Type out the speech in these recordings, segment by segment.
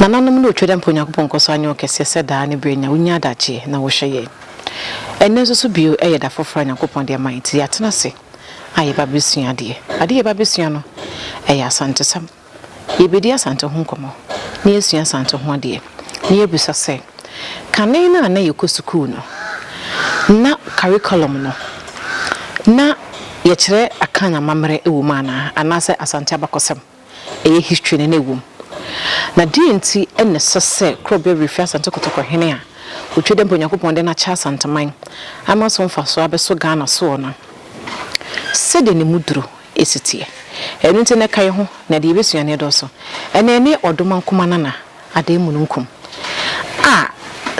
Nananom ne otwa dɛ mpo Onyankopɔn nkɔ so anyɛ wo kɛseɛ sɛ daa ne berɛ nyinaa, wonya adagyeɛ na wohwɛ yɛn. Ɛnnɛ nso so bio yɛ da foforɔ a Nyankopɔn de ama yɛn nti yɛatena ase a yɛba abɛsua adeɛ. Adeɛ a yɛba abɛsua no, ɛyɛ Asantesɛm. Yɛbɛdi Asante ho nkɔmmɔ na yɛasua Asante ho adeɛ na yɛabisa sɛ, kane no a na yɛkɔ sukuu no, na curriculum no, na yɛkyerɛ Akan amammerɛ wɔ mu anaa, anaasɛ Asante abakɔsɛm, ɛyɛ history no na ɛwɔ mu? Na deɛn nti na ɛsɛ sɛ Kurɔbeawerɛ firi Asante Kɔtɔkɔhene a ɔtwa dɛ mpo Onyankopɔn de no akyɛ Asanteman ama so mfasoɔ abɛso Ghana soɔ no sɛdeɛ ne mu duro si teɛ. Ɛno nti no ɛkae ho na deɛ yɛbɛsua no ɛdɔɔso. Ɛnɛ ne Ɔdomankoma Nana Adee mununkum a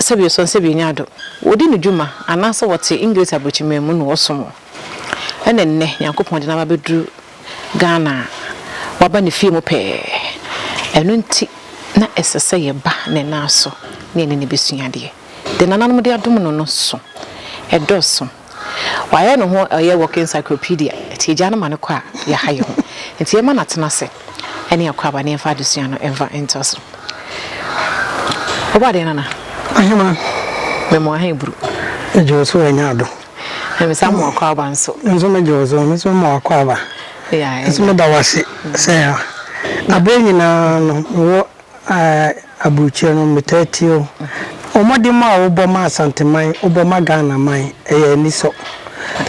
sɛbi ɔsɔn sɛbi ɔnya adom, wɔdi no dwuma anaasɛ wɔte English abrɔkyimmerɛ mu na wɔsom wɔn. Ɛna nnɛ Nyankopɔn de no aba abɛduru Ghana a waba ne fie mu pɛɛ. Ɛno nti na ɛsɛ sɛ yɛba ne nan so ne yɛne no bɛsua adeɛ. Deɛ nananom de adom no no so, ɛdɔɔso. Wayɛ ne ho ɔyɛ walking encyclopedia, nti yɛgyaa no ma no kɔ a, yɛaha yɛn ho. Nti yɛmma no atena ase ne Akwaaba na yɛmfa adesua no mfa ntoa so. Wobaa deɛ nana? Aheman. Mɛmoa he buru. Megye wo so anya ado. Na me san moa Akwaaba nso. Me nso megye wo so, me nso mɛmoa Akwaaba. Yeah, ɛnna. Nso meda wo ase sɛ aberɛ nyinaa no mewɔ Ah aburukyire no metaa tie o. Mmɔden a wobɔ ma Asanteman, wobɔ ma Ghana man ɛyɛ anisɔ.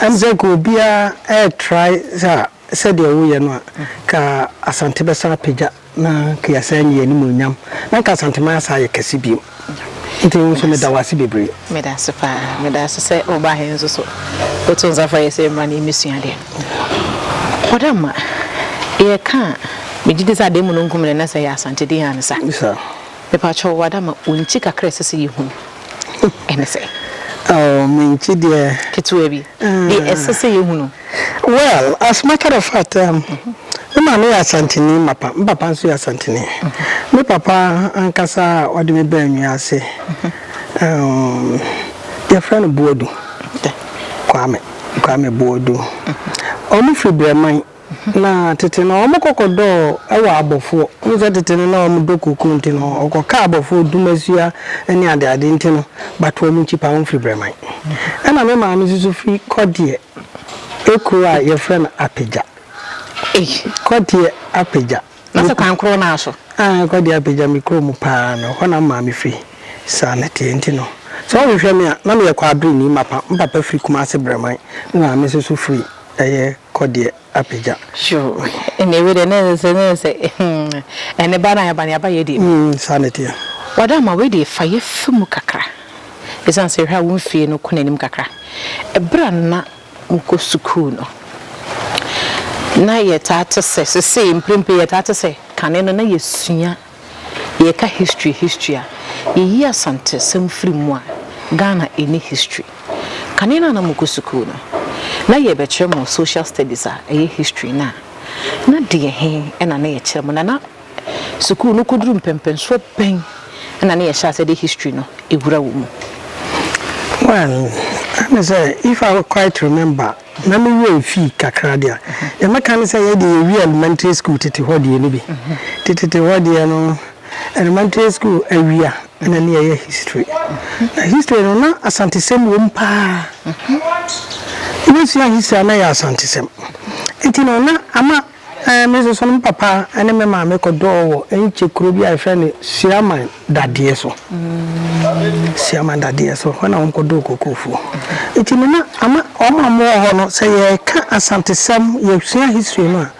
Ɛm sɛ nka obiara ɛɛtrae sɛ sɛdeɛ woyɛ no a nka Asante bɛsan apagya na nka yɛasan anya yɛn animuonyam na nka Asanteman asan ayɛ kɛse bio. Nti wo nso meda wo ase bebree. Meda ase paa. Meda ase sɛ woba he nso so woto nsa frɛ yɛ sɛ yɛmmra na yɛmmɛsua adeɛ. Ɔdamma, yɛka a, megye di sɛ adeɛ mu no nkum no na sɛ ɛyɛ Asante din a ne sa. Mepakyɛw wo Adamma, wo nkyi kakra a ɛsɛ sɛ yɛhu no, ɛne sɛn? Oh, me nkyi deɛ. Ketewa bi. Deɛ ɛsɛ sɛ yɛhu no. Well, as matter of fact, um, me maame yɛ Asanteni mapa, me papa nso yɛ Asanteni. Me papa ankasa a ɔde me baa nnua ase, um, yɛfrɛ no Boadu. Kwame, Kwame Boadu. Wɔn firi Brɛman. Na tete no, wɔn kɔkɔdɔɔ ɛwɔ abɔfoɔ. Wɔn sɛ tete no na wɔn dɔ koko nti no, ɔkɔka abɔfoɔ dumasua ne adeade nti no, but wɔn nkyi pa wɔn firi Brɛman. Ɛna me maame nso firi Kɔdeɛ. Ekuro a yɛfrɛ no Apegya. Ei. Kɔdeɛ Apegya. Na sɛ kwan korɔ no ara so. Aane, Kɔdeɛ Apegya, me kuro mu pa ara no, ɛhɔ na me maame firi. Saa na ɛteɛ nti no, sɛ wohwehwɛ me a, na meyɛ Kwabreni, mapa, me papa firi Kumase Brɛman, me maame nso so firi ɛyɛ Kɔdeɛ. apagya. Sure ɛnneɛ wei deɛ na ɛsɛ sɛ na ɛsɛ ɛne ba na yɛba ne aba yɛ deɛ mu. Mm saa na ɛteɛ. Wada ama wei deɛ fa yɛ fa mu kakra ɛsiane sɛ hwɛ a wo mfie no kɔ n'anim kakra ɛberɛ a na mo kɔ sukuu no na yɛtaa te sɛ sesei mprempren yɛtaa te sɛ kane no na yɛsua. Yɛka history history a, yɛyi Asantesɛm firi mu a, Ghana nni history. Kane no a na mokɔ sukuu no, na yɛrebɛkyerɛ mo social studies a ɛyɛ history no a, na deɛ he na na yɛkyerɛ mo? Na na sukuu no kɔduru mpɛmpɛnsoɔ bɛn na na yɛhyɛ aseɛ de history no wura wɔ mu? Well, ɛne sɛ, if I quite remember, Na me werɛ mfi kakra deɛ a, deɛ mɛka ne sɛ yɛ deɛ yɛwie elementary school tete hɔ deɛ no bi. Tetete hɔ deɛ no, elementary school awie a na ne yɛyɛ history. Na history no na Asantesɛm wɔ mu pa ara. Wobɛsua history a na ɛyɛ Asantesɛm. Nti no na ama. Me nso so no me papa ne me maame kɔdɔɔ wɔ Enkye kuro bi a yɛfrɛ no Siaman dadeɛ so. Siaman dadeɛ so hɔ na wɔn kɔdɔɔ kokofuo. Nti no na ama wɔn a wɔwɔ hɔ no sɛ yɛka asantesɛm yɛsua history no a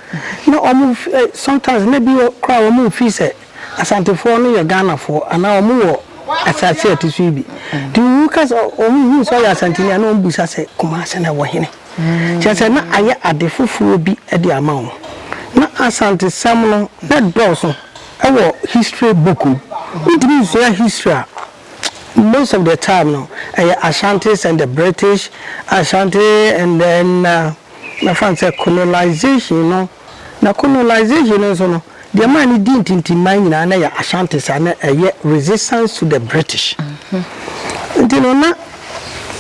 na wɔn sometimes na bi koraa wɔn nfiri sɛ asantefoɔ no yɛ Ghanafoɔ anaa wɔn wɔ asase a ɛte so yi bi. Nti woka sɛ wɔn hu sɛ ɔyɛ asanteni a na wɔn bisa sɛ Kumasi na ɛwɔ hene. kyerɛ sɛ na ayɛ ade foforɔ bi de ama wo. Na Asantesɛm no na dɔɔso wɔ history book mu. Wontumi nsua history a most of the time no ɛyɛ Ashantis and the British, Ashanti and then mɛfa no sɛ colonization no. Na colonization no nso no, deɛ ɛmaa no dii ntintimman nyinaa na ɛyɛ Ashantis a na ɛyɛ resistance to the British. Nti no na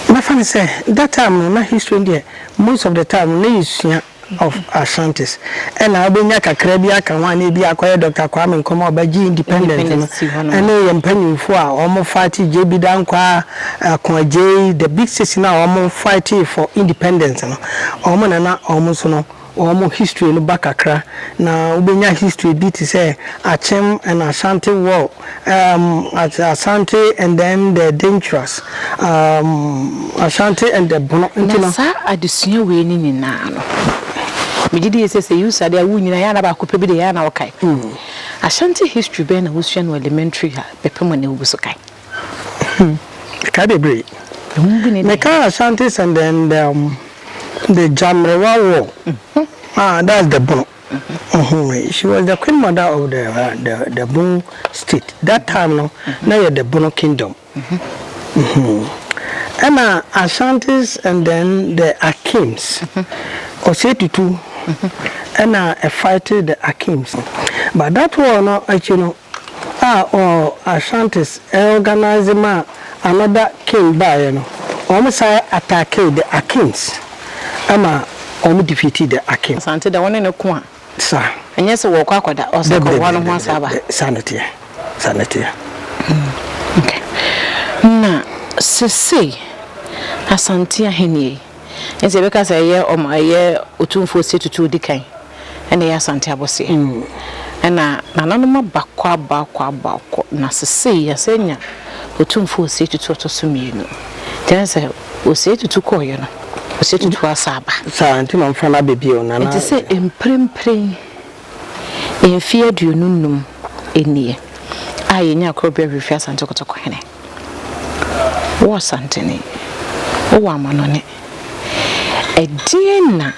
mɛfa no sɛ that time no na history no deɛ most of the time no na yɛsua of Ashantis. Ɛna wobɛnya kakra bi aka ho a na ebi a akɔyɛ Doctor Kwame Nkrumah a ɔbɛgyee independent no, Independence si hɔ nom. ɛne yɛn mpanimfoɔ a wɔn fighte JB Dankwah, Ako Adjei, the big six no a wɔn fightee for independence no, wɔn na na wɔn nso no wɔn history no ba kakra na wobɛnya history bi te sɛ Akyem and Ashanti war, um, Asante and then the Dangerous, um, Ashanti and the Bono. Nti no. Na saa adesua wei ne nyinaa no, megye die sɛ sɛ usa de a wo nyinaa yɛ ana baako pɛ bi de yɛ ana wokae. Ashanti history bɛn na wosua no elementary ha bɛpem ɛnɛ wogu so kae? Mekae bebree. Mekae Ashanti sɛm dɛndɛɛm de gya mmerewa wɔ ah that's the bono she was the queen mother of the the the bono state that time no na yɛ the bono kingdom ɛna Ashantis and then the Akims ɔsɛ tutu ɛna fight the Akims but that war no akyi no. a ɔɔ Ashantis ɛorganise maa another king baeɛ no, wɔn san attackee the Akins ɛma wɔn defeatee the Akin. Asante dɛ wɔne no ko a. Sa. Ɛnyɛ sɛ wɔɔkɔ akɔda Ɔsakɔboa no ho asaaba. Dɛbi dɛbi saa ne teɛ saa ne teɛ. Hmm ok na sesei Asante ahennie yi nti yɛbɛka sɛ ɛyɛ ɔmo ɛyɛ Otumfoɔ Setutu odikan. ɛna ɛyɛ Asante Abɔseɛ ɛna nananom abakɔ abakɔ abakɔ na sesei yɛasan anya Otumfoɔ Osei Tutu ɔtɔ so mmienu kyerɛ ne sɛ Osei Tutu kɔɔeɛ no Osei Tutu asa aba saa nti ma mfa no abɛ bio nana nti sɛ mprempren mfeɛ aduonu nnum nie a yɛnya korɔbea hwehwɛ Asante Kotoko hene. Wo Asanteni, wowɔ amanɔne. Ɛdeɛn na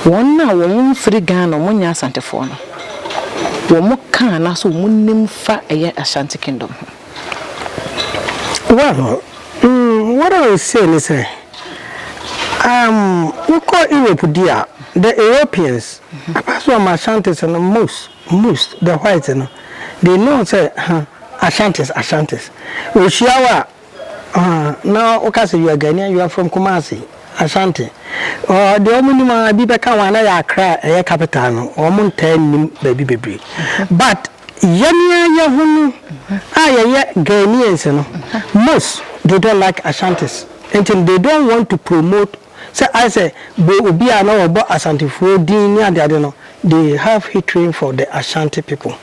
wɔn a wɔn mfiri Ghana, wɔn nyɛ Asantefoɔ no, wɔn ka anaasɛ wɔn nim fa ɛyɛ Ashanti Kingdom ho? Well, mm, what I will say ne sɛ, um, wo kɔ Europe di a, the Europeans, apart from Ashantis no, most. Moose, the white no, they know sɛ huh, Ashantis, Ashantis. Wɔhyia wo a, huh, na woka sɛ you are Ghanaian, you are from Kumasi, Ashanti. Ɔɔ, deɛ wɔn nim ara, ebi bɛka ho a, na ɛyɛ Accra a ɛyɛ capital no, wɔn ntaa nnim baabi bebree. But yɛn ara yɛn ho no a yɛyɛ Ghanaians no, most, they don't like Ashantis. Nti no, they don't want to promote sɛ ayɛ sɛ bɔ obi a na wɔbɔ Asantefoɔ din ne adeade no, they have hatred for the Ashanti people.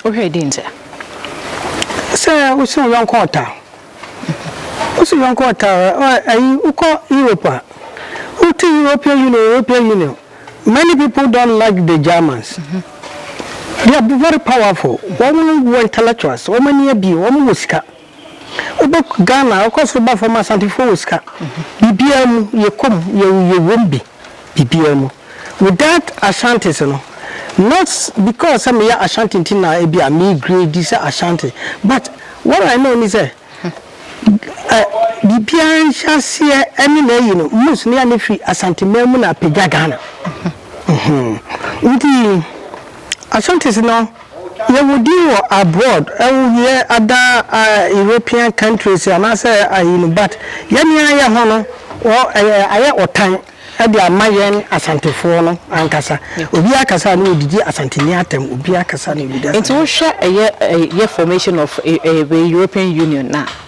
Wohwɛ dɛn nti a? Sɛ wosi wo yɔnko ɔtaa. Wosi wo yɔnko ɔtaa a, ayi wokɔ Europe a, wote European Union, European Union. Many people don't like the Germans. They are very powerful. Wɔn wɔ intellectuals, wɔn ani abie, wɔn wɔ sika. Wobɛkɔ Ghana wokɔ soro ba fam a Asantefoɔ wɔ sika. Biribiara mu yɛkɔ mu yɛwɔ mu bi biribiara mu. With that Ashantis no not because sɛ meyɛ Ashanti nti na ebi a me grade sɛ Ashanti but what I know ne sɛ biribiara nhyɛaseɛ ɛne n'ayi no most no yɛne firi Asante man mu na apagya Ghana. Nti Ashantis no. Yɛwɔ din wɔ abroad wo wiɛ other European countries anaasɛ ayi no but yɛn ara yɛn ho no ayɛ ɔtan de ama yɛn Asantefoɔ no ankasa obiara kasa a na ɔdidi Asanteni atɛm obiara kasa na ɔdidi Asanteni. Nti wohwɛ ɛyɛ formation of European Union no a.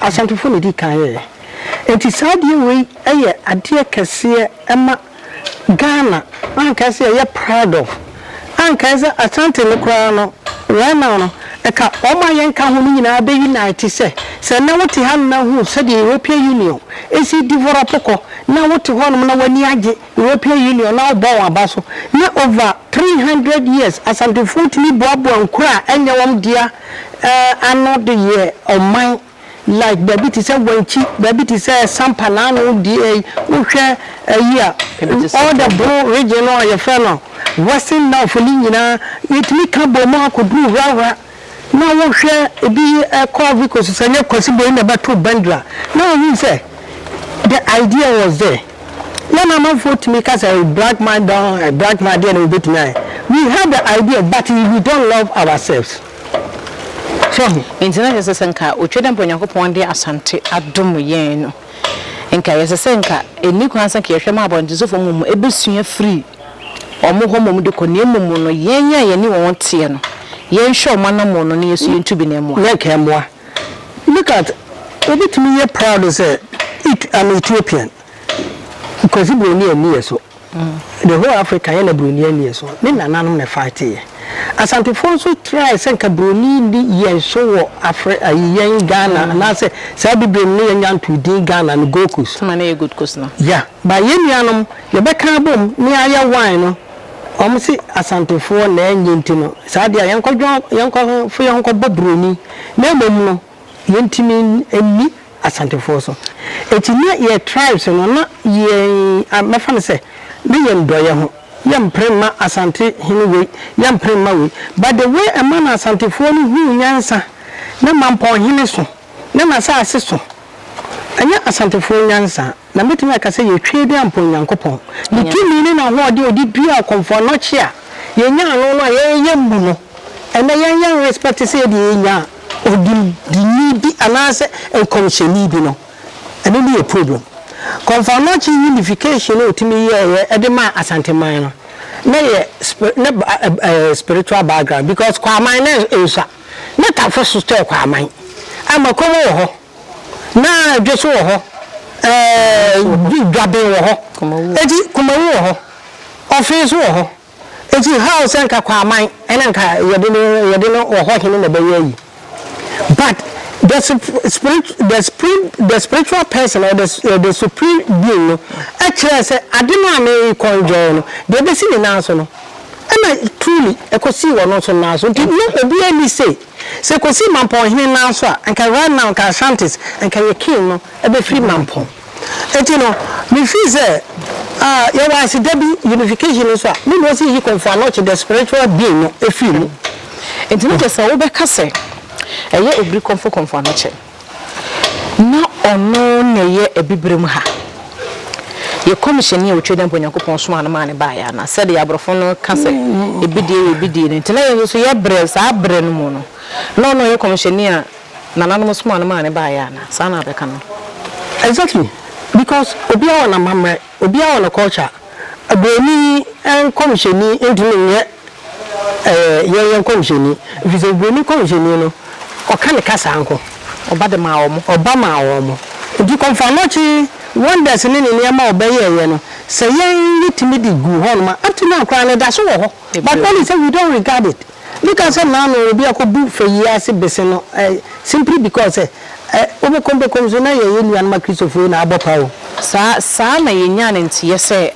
Asantefo na edi kan yɛɛ. Enti saa adeɛ wei yɛ adeɛ kɛseɛ ma Ghana a anka ɛsɛ sɛ yɛyɛ proud of. Anka ɛsɛ sɛ Asante no koraa no right now no ɛka wɔn a yɛnka ho no nyinaa bɛ unite sɛ, sɛ ɛnnɛ wote hanom na wohunu sɛdeɛ European Union si develop kɔ na wote hɔnom na w'ani agye European Union na wɔbɔ wɔn aba so. Ná over three hundred years Asantefoɔ tumi boaboa nkuro a ɛnyɛ wɔn dea ano de yɛɛ ɔman like baabi te sɛ Wankyi, baabi te sɛ Sampa na ano deɛ yi wohwɛ ayi a all the Bro region no a yɛfrɛ no Western North no nyinaa yɛtumi ka bɔɔ mu akɔduru Wrawra. Na wo hwɛ ebi kɔ Ivory Coast sɛ nyɛ Kwasi Boyin na ɛbɛto Bendra na wohu sɛ the idea was there na na amanfoɔ tumi ka sɛ black man don black man deɛ na obetumi ayɛ we have the idea but we don't love ourselves so ho. Nti na yɛsɛ sɛ nka otwa dɛ mpo Nyankopɔn de Asante adom yɛn no nka yɛsɛ sɛ nka ɛnni kwan sɛ nka yɛhwɛ ma abɔntesofo mmom ɛbɛsua firi wɔn hɔ mmom de kɔ, na mmom no, yɛn a yɛne wɔn teɛ no, yɛnhwɛ wɔn anammɔn no, na yɛn nso yentu bi na ɛmmoa. Na nka ɛmmoa. Look at, wobetumi yɛ proud sɛ, It, I'm Ethiopian. Kwasi Broni anni yɛn so. The whole Africa, yɛn na Broni anni yɛn so. Ne nananom na ɛfightee yɛn. Asantefoɔ nso try sɛ nka Broni nni yɛn so wɔ Afri, ayi, yɛn Ghana, anaasɛ saa Abibire no ne yɛn nya ntoo din Ghana no, Gold Coast. Ɛma no yɛ Gold Coast no. Yeah, but yɛn nuanom, Yɛbɛka abom ne ayɛ wine no, wɔn se Asantefoɔ na ɛnyɛ nti no, saa deɛ a yɛnkɔdwɔn, yɛnkɔfo yɛn ho kɔbɔ Buroni, na mmom no yɛntumi nni Asantefoɔ so. Enti na yɛn tribes no, na yɛn, mɛfa no sɛ, ne yɛn dɔeɛ ho, yɛmpere mma Asante hene wei, yɛmpere mma wei. But the way ɛma na Asantefoɔ no huu nyansa na Mampɔnhene so, na n'asaase so, ɛnyɛ Asantefoɔ nyansa. Na mɛtumi aka sɛ yɛ twee de ampɔn Nyankopɔn, Ne tumi ne N'ahoɔden a Ɔde duaa ɔkɔmfoɔ anɔkye a yɛnyaa no no a yɛreyɛ mmu no. Ɛnnɛ yɛn yɛn respect sɛ yɛdeɛ yɛnyaa odindini bi anaasɛ nkɔmhyɛni bi no, ɛno ne yɛ problem. Kɔmfoɔ anɔkye unification a ɔtumi yɛɛeɛ de maa Asante man no, na yɛ ne spiritual background because Kwaaman na ɛnsua, ne Tafo so tɔɛ Kwaaman, ama Komo wɔ hɔ. Na dwoso wɔ hɔ, ɛɛ dwaben wɔ hɔ, eti kumawu wɔ hɔ, ɔfee nso wɔ hɔ. Eti how sɛ nka Kwaaman ɛna nka yɛde no yɛde no wɔ hɔ hene na ɛbɛyɛ ayi? But the spirit the spirit the spiritual person or the the supreme being no ɛkyerɛɛ sɛ ade no a na ɛrekɔ enjoy no deɛ ɛbɛsi ne nan so no ɛna truly ɛkɔsii ɔno nso nan so nti na obiara nni say. Sɛ ɛkɔsi Mampɔn hene nan so a, anka right now anka Ashantis, anka yɛ king no bɛfiri Mampɔn. Enti no, me feel sɛ ah, yɛwɔ aseda bi, unification no nso a, me na ɔsi Yikomfo Anokye the spiritual being no firi mu. Enti na kyerɛ sɛ wobɛka sɛ ɛyɛ Obiri Komfo Komfo Anokye. Na ɔno na ɛyɛ Abibirem ha. Yɛ kɔmhyɛni a ɔtwa dɛn mpo Onyankopɔn somaa no maa no baeɛ anaa? Sɛdeɛ aborɔfo no ka sɛ ebi deɛ yɛ ebi deɛ no nti, na yɛn nso so yɛ brɛ saa berɛ no mu no, na ɔno ɔyɛ kɔmhyɛni a nananom somaa no maa no baeɛ anaa? Saa na bɛka no. Exactly because obiara wɔ n'amammerɛ, obiara wɔ ne culture. Buroni kɔmhyɛni ntumi nyɛ Ɛyɛ yɛn yɛn nkɔmhyɛni, ɛfiri sɛ Hebroni nkɔmhyɛni no, ɔka ne kasa nko. Ɔba de maa wɔn. Ɔba maa wɔn. Enti kɔmfoanɔkye wondɛs ne ne nneɛma a ɔbɛyɛeɛ no, sɛ yɛn yɛtumi de guu hɔnom a, up to now koraa no ɛda so wɔ hɔ, but only sɛ we don't regard it. Bi ka sɛ nnaano obi akɔbu fayie ase bese no, eh, simply because sɛ, eh, wobɛkɔm bɛkɔm so na yɛyɛ nuanom Akristofoɔ yi na abɔ paa o. Saa, saa na yɛnyaa no nteɛ sɛ.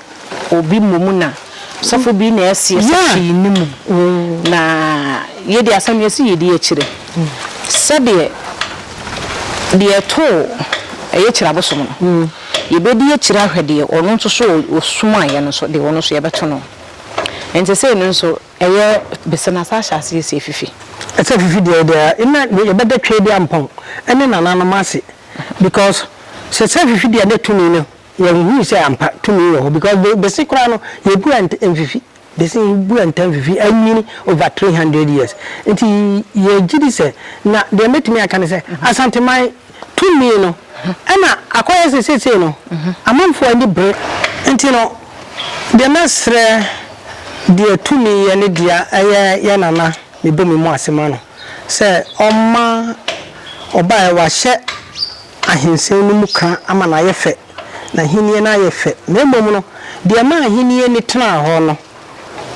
obi mmom na sɔfo bi na ɛsi ɛsɛ pii ne mu na yɛde asɛm yɛsi yɛdi akyire sɛdeɛ deɛ ɛtoo ɛyɛ kyerɛ abosom no mm. yɛbɛdi akyire ahwɛ deɛ ɔno nso so ɔsom ayɛ no so deɛ ɔno nso yɛbɛto no nti sei no nso ɛyɛ bɛsɛ no asa ahyɛ aseɛ sɛ fifi ɛsɛ fifi deɛ deɛ ɛna yɛbɛda twɛ deɛ mpɔn ɛne nananom ase because sɛ sɛ fifi deɛ ne tumi no Yɛnhuu sɛ ampa tumi wɔ hɔ because be bese koraa no yɛbua nt mfifi bese yɛbua nta mfifi anwini over three hundred years nti yɛgyedi sɛ na deɛ mɛtumi aka ne sɛ Asanteman tumi no ɛna akɔyɛ sɛ seesei no amanfoɔ ani bere nti no deɛ mɛsrɛ deɛ tumi yɛ ne dea ɛyɛ yɛ nana mebɔ me mu ase ma no sɛ ɔmma ɔbaɛ wahyɛ Ahensen no mu kã ama no ayɛ fɛ, n'ahenni no ayɛ fɛ, na mmom no, deɛ ɛma ahenni no tenaa hɔ no,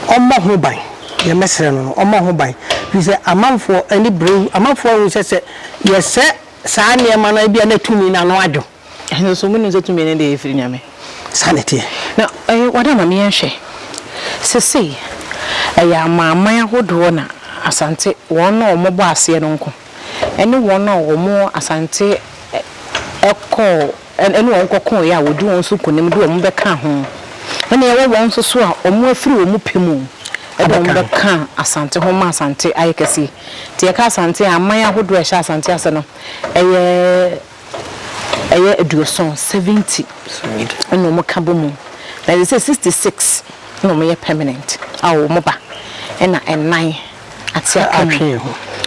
ɔmmɔ ho ban. Deɛ mɛsrɛ no no, ɔmmɔ ho ban, ɛfiri sɛ amanfoɔ ani bere wo. Amanfoɔ ahu sɛ, sɛ yɛsɛ saa nneɛma no a, ebia na tumi no ano adwo. Nanso monim sɛ tumi no deɛ, ɛfiri Nyame. Saa na ɛteɛ. Na ɛyɛ wɔn a ma me yɛnhwɛ. Seesei, ɛyɛ amanaman ahodoɔ na Asante, wɔn a wɔbɔ aseɛ no nko. ɛne wɔn a wɔn Asante kɔɔ ɛne wɔn kɔkooɛ a wɔdi wɔn so nkonim de wɔn bɛka ho ɛne ɛwɔ wɔn nso so a wɔn afiri wɔn pɛ mu ɛde wɔn bɛka Asante ho ma Asante ayɛ kɛse nti yɛka Asante a aman ahodoɔ a ɛhyɛ Asante ase no ɛyɛ ɛyɛ aduɔsɔn, seventy, ɛna ɔmo ka bɔ mu. Na te sɛ sixty six na ɔmo yɛ pɛmanɛnt a ɔmo ba ɛna ɛnan ate aka mu.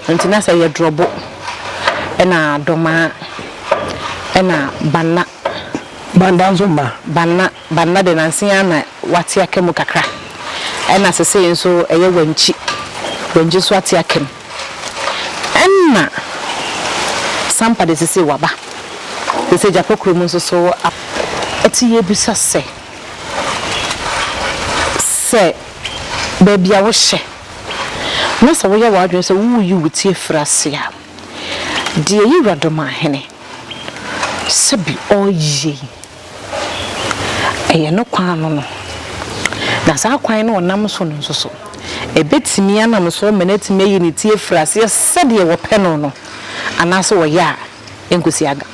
Nti na sɛ yɛ drɔbo ɛna dɔmaa ɛna banna. Banda nso ma. Banna. Banna de, nnansa yi ara na wate aka mu kakra, ɛnna seesei nso ɛyɛ Wankyi. Wankyi nso ate aka mu. Ɛnna Sampa de, seesei waba. Seesei Gyapɛ kurom nso so aba. Enti yebisa sɛ, sɛ baabi a wohyɛ na sɛ woyɛ w'adwene sɛ woreyi wo ti afiri ase a, deɛ Yewuradomahene sɛ bi ɔreyɛ yi, Ɛyɛ no kwan ano no, na saa kwan no a ɔnam so no nso so, ɛbɛtumi anam so ama no atumi ayi ne ti afiri aseɛ sɛdeɛ wɔpɛ no no, anaasɛ wɔyɛ a ɛnkɔsi aga.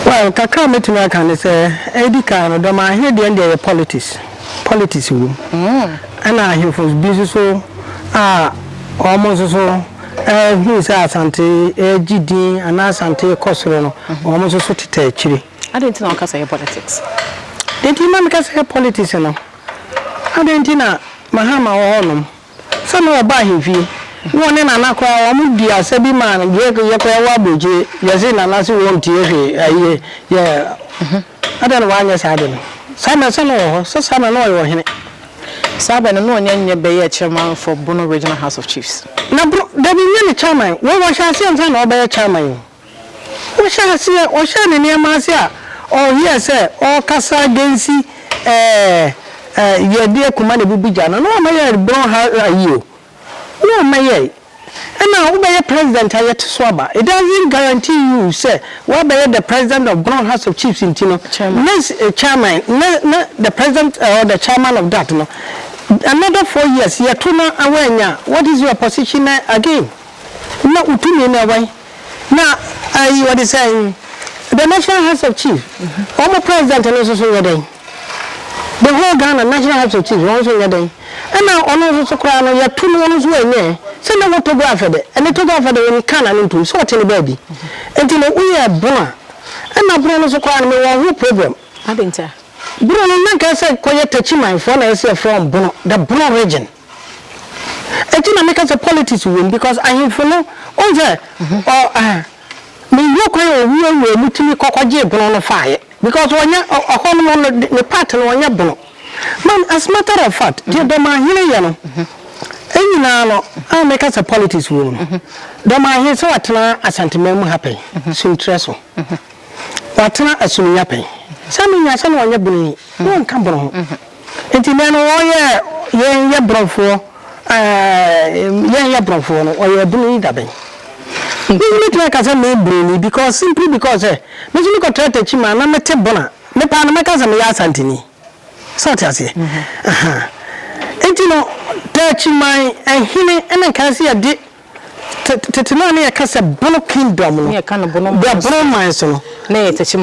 Well, kakra a mɛtumi aka ne sɛ, ɛdi kan no, dɔm ahe deɛ no deɛ ɛyɛ politics, politics wɔ mu, ɛna ahemfo bi nso so a wɔn nso so. Ehu sɛ Asante regye din anaa Asante rekɔ soro no, wɔn nso so tetɛ akyiri. Adɛn nti na woka sɛ ɛyɛ politics? Deɛ nti na meka sɛ ɛyɛ politics no, adɛn nti na Mahama wɔ hɔnom? Sɛ na ɔba ahemfie, na ɔne Nana koraa wɔdi asa bi ma yɛ koraa yɛwɔ aburokyire, yɛse Nana se wɔntie hwee, ɛyɛ yɛ. Adɛn na wanyɛ saa ade no? Saa mmerɛ sɛ na ɔwɔ hɔ? Sɛ saa na na ɔyɛ ɔhene. Saa bɛ no na ɔnya nyɛ bɛyɛɛ chairman for Bono Regional House of Chiefs. Na Bono, dabi nyɛ ne chairman. Wei ɔhyɛ aseɛ ansa na ɔbɛyɛ chairman o. Ɔhyɛ aseɛ, ɔhyɛɛ ne nneɛma ase a ɔyɛɛ sɛ ɔrekasa against ɛɛ ɛɛ Yɛdeɛ Kumah na ɛbubu gya no, na wamma yɛn Bono ha ayi o. Wo a mɛyɛe. Ɛna wobɛyɛ president a yɛte so aba. It doesn't guarantee you sɛ woabɛyɛ the president of Brong House of Chiefs nti no, ne chairman, ne ne the president or the chairman of that no, another four years yɛto na woannya a, what is your position na again? Na wo tumi no ɛwɛn? Na ayi wɔde sɛn the National House of Chiefs, wɔn president no nso so nyɛ dɛn? The whole Ghana National Heart Society wɔn nso nyɛ dɛn ɛna ɔno nso so koraa no yɛto no ɔno nso ɛnyɛ sɛ na wɔ Togo afɛdɛ ɛne Togo afɛdɛ wɔn kaa na ne ntom sɛ ɔte ne baabi nti no woyɛ bono a ɛna bono no so koraa no mewɔ ho problem bono no na nka sɛ kɔyɛ takyiman foɔ na ɛsɛ yɛfrɛ wɔn bono the bono region ɛti na meka sɛ politics wɔ mu because ahemfo no wɔn sɛ ɔ ah. Me yɛ kwan a owura wura mu tumi kɔ kɔ gyee bono no faeɛ because ɔnyɛ hɔ nom no ne part no ɔnyɛ bono man as matter of fact deɛ dɔmahene yɛ no nyinaa no a me ka sɛ politics wɔ mu no dɔmahene sɛ watena asanteman mu ha pɛn suntrɛ so watena asuminya pɛn saa menya sɛ na ɔnyɛ bono yi na ɔnka bono ho. Nti nnɛ no wɔyɛɛ yɛn yɛ brɔfoɔ ɛɛɛ yɛn yɛ brɔfoɔ no ɔyɛ ɛbunu yi da bɛn? Nti me bɛtumi aka sɛ meyɛ broni bi because simply because sɛ me nso me kɔ tra takyi man na me te bon a me paa no mɛka sɛ meyɛ asantini sɛ wote aseɛ ahaa nti no takyi man ɛhene ɛna nkae sɛ yɛde Tete no a na yɛka sɛ Bono Kingdom no, berɛ Bono man so no, na ɛyɛ Takyi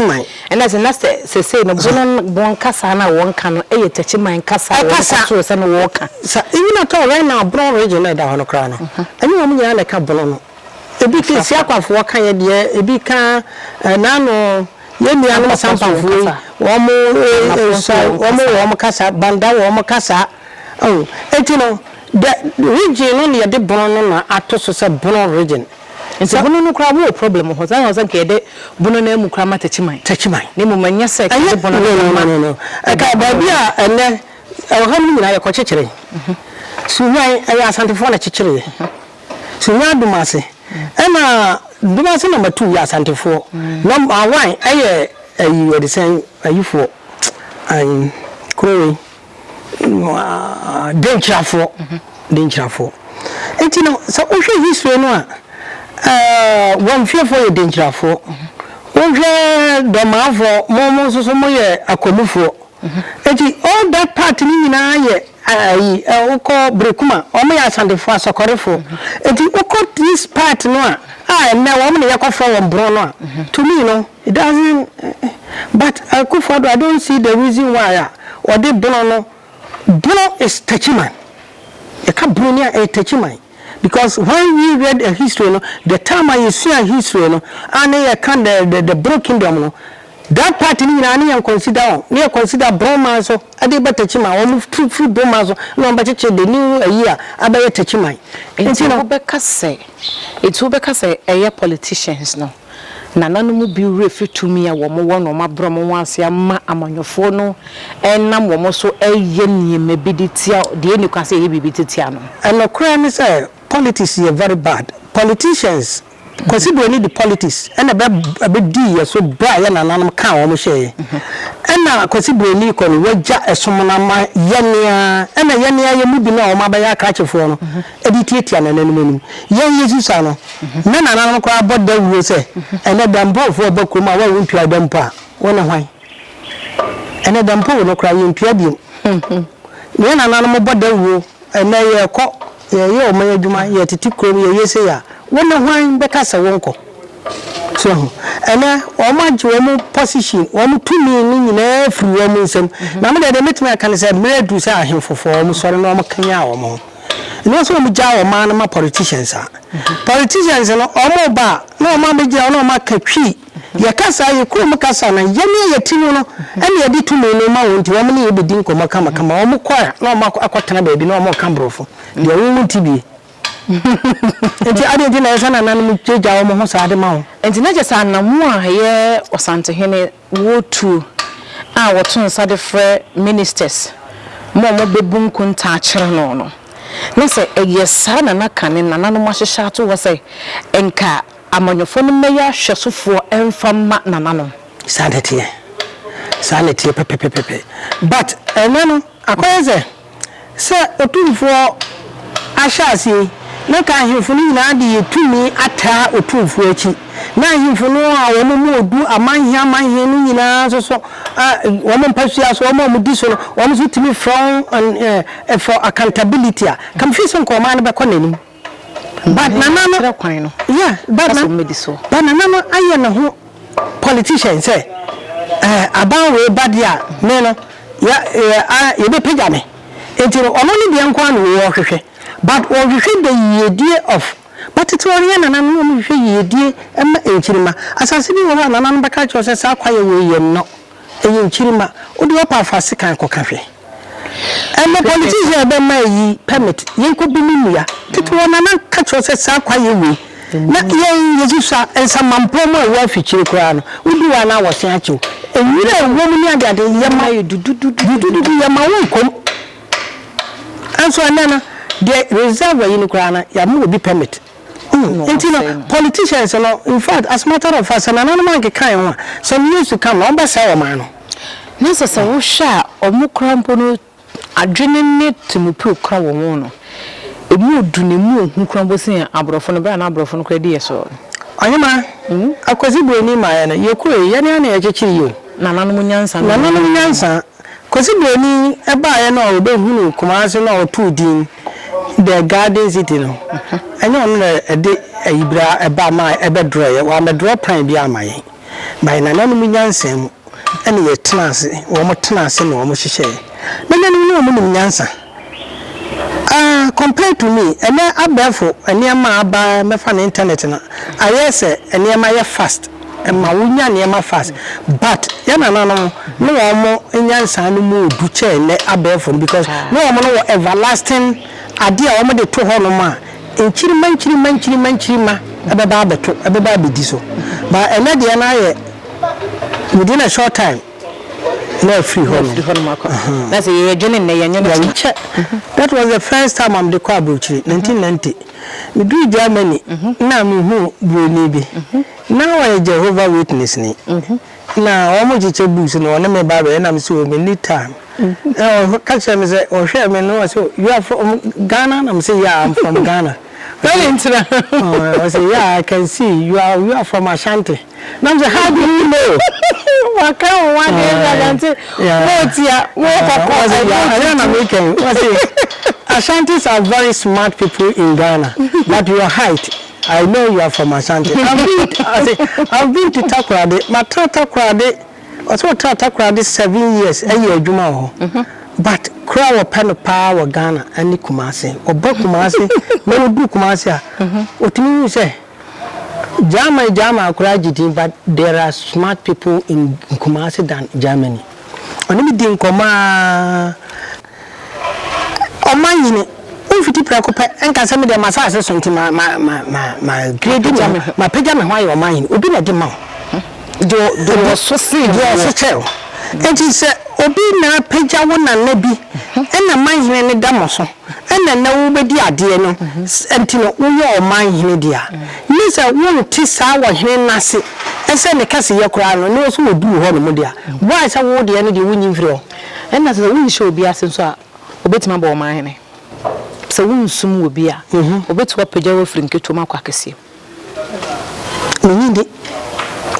man. Ɛna sɛ na sɛ sesei no Bono bon kasa no a wɔka no yɛ Takyi man kasa a wɔn kɔtoo sɛ no wɔka. Sa even at all right now Bono region no a ɛda hɔ no koraa no, ɛnyɛ wɔn nyinaa na ɛka Bono no. Ebi ka Siakwafoɔ ka yɛ deɛ, ebi ka naano yɛn nuanom Sampafoɔ yi wɔn nso wɔn wɔ wɔn kasa, Banda wɔ wɔn kasa. Oh, enti no, dɛ region no na yɛde bono no na ato so sɛ bono region. Enti Sɛ. bono no koraa wɔ problem wɔ hɔ, saa na ɔsɛ nka yɛde bono no amu koraa ma Takyiman. Takyiman. Na mmom ɛnyɛ sɛ Ɛnyɛ, yɛde bono no no, no, bɛma no, no, no. Ɛka ɛde bono baabi no. a ɛnnɛ ɔham no nyinaa yɛkɔkyekyere. Sunyani, ɛyɛ Asantefoɔ na kyekyereeɛ. Sunyani Dumase, ɛna Dumase na Matu yɛ Asantefoɔ, na Awan yɛ ayi wɔde sɛn ayifoɔ, ayi, kuro wei. denkyirafoɔ denkyirafoɔ nti no sɛ wohwɛ history no a eh, wɔn fiefoɔ yɛ denkyirafoɔ wohwɛ dɔmaafoɔ mo mo nso so moyɛ akwamufoɔ nti all that part no nyinaa yɛ ayi eh, eh, wokɔ berekuma wɔn yɛ asantefoɔ asɔkɔrefoɔ nti wokɔ this part no a a ɛnɛ wɔn na yɛkɔfrɛ wɔn borɔ no a to me no It doesn't but Akuffo Addo I don't see the reason why a wɔde Bono no, Bono is Techiman, yɛka Bono ni a ɛyɛ Techiman because when we read the history no, the time a yɛsua history no a ne yɛka the the the Bono kingdom no, that part no nyinaa ne yɛn consider wɔn, ne yɛ consider Bono man so de ba Techiman, wɔn firi firi Bono man so na wɔn bɛkyekye the new ayi a abɛyɛ Techiman. Nti no. Nti wobɛka sɛ, nti wobɛka sɛ ɛyɛ politicians no. Nana no mu bi werɛ firi tumi a wɔwɔ na wɔabrɛ wɔn ase ama amanyɔfoɔ no nam wɔn so reyɛ nneɛma bi de tia deɛ ɛnni kwan sɛ yɛyɛ biribi de tia no. Nokorɛ ne sɛ politics yɛ very bad politicians Kwasi Broni de politics na ɛbɛdii yɛn so berɛ a yɛn nananom kaa wɔn hyɛeɛ ɛna Kwasi Broni rekɔ no wagya ɛsom no ama yɛn ara ɛna yɛn ara yɛn mu binom a wɔabɛyɛ akrakyefoɔ no de tiatia nananom anim. Yɛn Yesu saa no, na nananom koraa bɔ dawuro sɛ, Ɛnnɛ Dampowfoɔ reba kurom a wo a wontuaa da mpo a, wo ne hwan? Ɛnnɛ Dampowo no koraa, yɛntua bio. Na yɛn nananom bɔ dawuro, Ɛnnɛ yɛrekɔ, yɛreyɛ ɔman adwuma, yɛretete kurom, yɛreyɛ sei a, wo ne hwan bɛka sɛ wonkɔ? So ahu? Ɛnnɛ wɔagye wɔn position, wɔn tumi no nyinaa afiri wɔn nsam. Na me deɛ, deɛ mɛtumi aka ne sɛ, mmerɛ aduru sɛ ahemfo foɔ, wɔsɔre na wɔkanyan wɔn ho. Anaasɛ wɔn gyaa wɔn maa no ma politicians a. Politicians no wɔn ba a na wɔn abɛgyina hɔ na wɔn aka twi. Yɛ kasa yɛ kurom kasa no yɛ ne yɛ ti mu no ɛna yɛde tumi no ma wɔn nti wɔn ne yɛ bɛdi nkɔmmɔ kama kama. Wɔn kɔ a na wɔn akɔ akɔ tena baabi na wɔn reka borɔfo deɛ wo wo nti bie. Nti adeɛ nti na ɛsɛ nananom gya wɔn ho saa de ma wo. Nti na kyɛ sɛ anamoa a ɛyɛ ɔsantehene. World Tour a wɔto nsa de frɛ ministers ma wɔbɛbu nkontaa akyerɛ no no, na sɛ ɛyɛ saa na na kane nananom ahyehyɛ ato hɔ sɛ nka amanyɔfoɔ no mmɛyɛ ahwɛsofoɔ mfa mma nananom. Saa na ɛteɛ. Saa na ɛteɛ pɛpɛpɛpɛ. But ɛnnɛ no, akɔyɛ sɛ. Sɛ otumfoɔ ahyɛaseɛ na ka ahemfo no nyinaa de yɛ tumi ataa otumfoɔ akyi, na ahemfo no a wɔn mu odu amanhe amanhe no nyinaa nso so a wɔn mpasua so wɔn a wɔdi so no wɔn nso tumi frɛ wɔn for accountability a, ka mefiri sɛ nka ɔman no bɛkɔ n'anim. But nana no kyerɛ kwan no yeah but na but nana no ayɛ ne ho politician sɛ eh aban wei ba deɛ a me no ya eh ah yɛbɛ pagya me nti no ɔno ne deɛ nko ara na ɔhwehwɛ but ɔhwehwɛ dɛ yiedie of ba tete ɔreyɛ nana no na ɔmo hwehwɛ yiedie ɛma nkyirima asase bi wɔ hɔ a nana no bɛka akyerɛ wo sɛ saa kwaeɛ wei yɛ nnɔ Ɛyɛ nkyirimma. Wode wapa fa sekan kɔka hwɛ. Ɛnɛ politician a ɛbɛma ayi permit yɛnkɔ bi ne nnua. Tete wɔ nana ka kyerɛ sɛ saa kwa yɛ wei. Na yɛn yɛsusua nsamanpɔn mu a ɛwɔ afikyire koraa no wodi hɔ a na wɔsen akyew. Nwura a ɛwɔ mu ne adeade yɛma dudududu yɛma wo nkɔm. Nanso ɛnɛ no deɛ reserve ayi no koraa no yɛama obi permit. Ɔno Nti no ɔsɛe no. politicians no infact as matter of fact sɛ nananom ankeka yɛn ho a some years to come na wɔbɛsɛe ɔman no. Na sɛ sɛ wohwɛ a wɔn koraa mpo no adwene ne temopue koraa wɔ wɔn no ɛmu ɔdu na ɛmu ɔhu koraa mpo sen aborɔfo no berɛ a na aborɔfo no koraa di yɛn soɔ no. Ɔhema, Akwasi Buronin maeɛ no, yɛkɔeɛ yi, yɛn ara na yɛkyekyere yi o. Nananom nyansa no. Nananom nyansa. Kɔsi Buroni baeɛ no a ɔbɛhunuu Kumasi no a ɔtoo din The Garden City no, ɛnyɛ ɔno na ɛde ayibire a ɛba ma ɛbɛdrɔeɛ. Wammɛdrɔ kwan biara amma yɛn. Na yɛn nananom nyansa mu na yɛtenaa ase, wɔtenaa ase na wɔhyehyɛeɛ. Nananom no a wɔnim nyansa Ah compared to me ɛnɛ abɛɛfo nneɛma a aba mɛfa no internet no ayɛ sɛ nneɛma yɛ fast ɛma wo nya nneɛma fast but yɛn nananom ne wɔn mo nyansa no mu odu kyɛn nnɛ abɛɛfo no because ne wɔn no wɔ everlasting adeɛ a wɔn de to hɔ nom a nkyirima nkyirima nkyirima nkyirima ɛbɛba abɛto ɛbɛba abɛdi so but ɛnɛ deɛ no ayɛ within a short time. na afiri hɔ nom. Na sɛ yɛdwene nnɛ, yɛnwene hena? Yɛnkyɛ. That was the first time a mede kɔɔ aburokyire, nineteen ninety. Medurii Germany na mehuu buroni bi. Na ɔyɛ Jehovah Witnessni. Na wɔkyekyɛ bus na ɔne me ba bɛyɛ na mese oh menni time. Na ɔka kyerɛɛ me sɛ ɔhwɛɛ me na ɔse oh you are from Ghana? Na mese yeah I'm from Ghana. Ɔse yeah I can see you are you are from Ashanti. na m sɛ how do you know waka wo ho adeɛ nti agyante mootia mookɔkɔ ɛyɛ na mekɛn wɔse Ashantis are very smart people in Ghana but your height I know you are from Ashanti I've been, I say, I've been to Takoradi matra Takoradi ɔsɛ ɔtra Takoradi seven years ɛyɛ adwuma wɔ hɔ but kura wɔpɛ no paa wɔ Ghana ɛne Kumase ɔba Kumase na ɔduru Kumase a ɔtumi hu sɛ German German koraa agye din but there are smart people in Kumasi than Germany. Ɔne me di nkɔmmɔ aa ɔma nyini womfiti prɛko pɛ nka sɛ medeɛ m'asaase so nti ma ma ma ma ma grade me ho ma pagya me ho ayɛ ɔma nyini obi na de ma wo deɛ ɔso sen deɛ ɔso kyɛ wo nti sɛ obi na pagya wo nana bi ɛna ma nyini ne da mo so. Ɛna na wobɛdi adeɛ no nti no woyɛ ɔman hene dea. Ne sɛ wonte saa wɔ hene no ase sɛ ne kɛseyɛ koraa no ne wo so wɔduru hɔ nom dea. Why sɛ wo deɛ no deɛ wonyi mfiri hɔ. Ɛna sɛ wonhyɛ obi ase nso a ɔbɛtumi abɔ ɔman hene. Sɛ wonsum obi a ɔbɛtumi apagya wo afiri nketewa mu akɔ akɛseɛ mu. Menye de,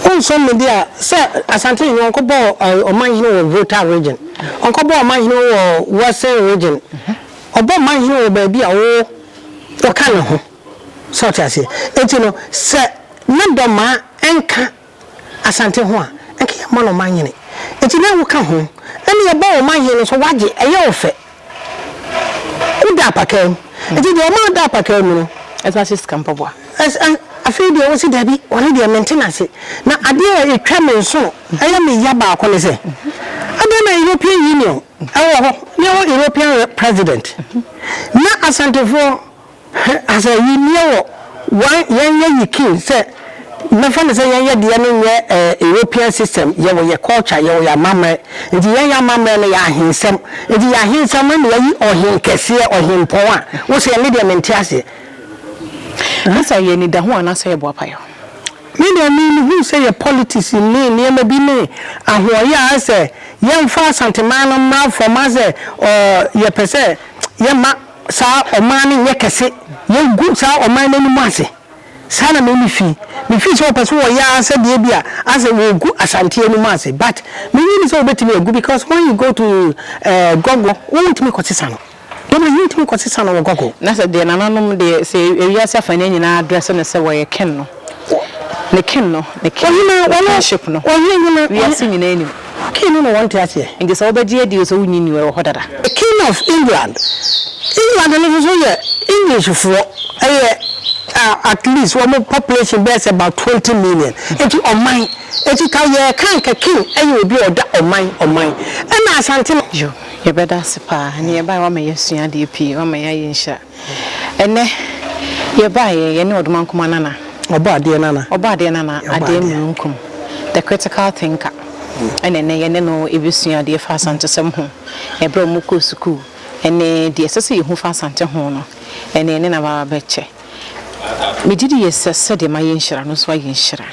wonsɔ me de a sɛ Asante Nene ɔnkɔ bɔ ɔman hene wɔ Volta region, ɔnkɔ bɔ ɔman hene wɔ Western region, ɔbɔ ɔman hene wɔ baabi a wo wɔka ne ho. Sɛ ɔte aseɛ? Enti no sɛ na dɔmaa nka. Asante ho a, nka yɛmma no ɔmanhene. Enti na woka ho. Ɛnna yɛbɔ wo ɔmanhene no nso, wagye, ɛyɛ wo fɛ. Woda apakaa mu. Enti deɛ ɔma ɔda apakaa mu no. Ɛsɛ sɛ ɔhyɛ sika mpaboa. Ɛsɛ, ɛ, afei deɛ ɔse, Dabi, ɔno deɛ mente no ase. Na adeɛ a ɛtwa me nsono, ɛyɛ me ya baako ne sɛ, adɛn na European Union wɔ hɔ, na yɛwɔ European President, na Asantefoɔ, Hwɛ asɛ yi nneɛ wɔ wan yɛn yɛ yi kin sɛ mɛfa no sɛ yɛn yɛ deɛ no nyɛ ɛɛ European system yɛ wɔ yɛ culture yɛ wɔ yɛ amammerɛ nti yɛn yɛ amammerɛ no yɛ ahensɛm nti yɛ ahensɛm no na yɛayi ɔhen kɛseɛ ɔhenpɔn a wo sɛ me deɛ mente aseɛ. Asɛ ɛyɛ anidaho anaa sɛ ɛboa payɔ. Me deɛ me me hu sɛ yɛ politics ne nneɛma bi ne ahoɔyɛ a asɛ yɛn fa asanteman no mmra fam asɛ ɔɔ yɛ pɛ sɛ yɛ ma Saa ɔman no nyɛ kɛse. Yɛagu saa ɔman no anim ase. Saa na m'ani fi. Mefii sɛ wɔpɛ sɛ wɔyɛ ara sɛ deɛ bi a asɛ wɔregu Ashanti anim ase but mennye nni sɛ wɔbɛtumi agu because when you go to eh, Gɔgɔ, wontumi kɔsesa no. Dɔm ayi wontumi kɔsesa no wɔ Gɔgɔ. Na sɛ deɛ nananom deɛ, sɛ wiase afaneɛ nyinaa adrɛse no sɛ wɔyɛ ken no. Ne kin no, ne kin, ne kinship no, wiase nyinaa nim. Kin no ne wɔn nte aseɛ. Nti sɛ wobɛgye adi o sɛ wonnye nni o, ɛwɔ hɔ dada. The king of England, England no nso yɛ English foɔ, ɛyɛ at least wɔn population bɛyɛ sɛ about twenty million, nti ɔman, nti ka yɛreka anka king yɛ obi a ɔda ɔman, ɔman, ɛna Asante. Yo, yɛbɛda ase paa, ɛne yɛbaeɛ, woama yɛasua adeɛ pii, woama yɛayɛ nhyira. Ɛnnɛ, yɛbaeɛ, yɛne Ɔdomankoma Nana. Ɔbɔadeɛ Nana. Ɔbɔadeɛ Nana, Adeɛ Mununkum, the critical thinker, ɛna ɛnnɛ yɛne no rebɛsua adeɛ fa Asantesɛm ho, ɛberɛ a wɔkɔɔ sukuu, ɛne deɛ ɛsɛ sɛ yɛhu fa Asante ho no, ɛnnɛ yɛne no aba abɛkyɛ. Megye di sɛ sɛdeɛ mayɛ nhyira no, wo nso woayɛ nhyira.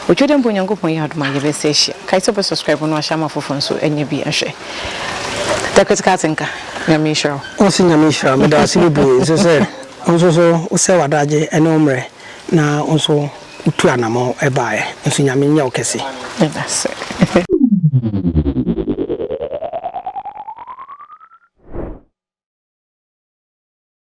Otwa dɛ mpo Nyankopɔn yɛ adom a yɛbɛsa ahyia. Kae sɛ wobɛ subscribe na wahyɛ ama afoforɔ nso anya bi ahwɛ. Da ketekaa ase nka. Nyame nhyira wo. Ɔse Nyame nhyira wo. Meda wo ase bebree nso sɛ wo nso so wosɛe w'adagye ne wo mmerɛ na wo nso wotu anamɔn baeɛ. Nso Nyame nyɛ wo kɛse. Medase.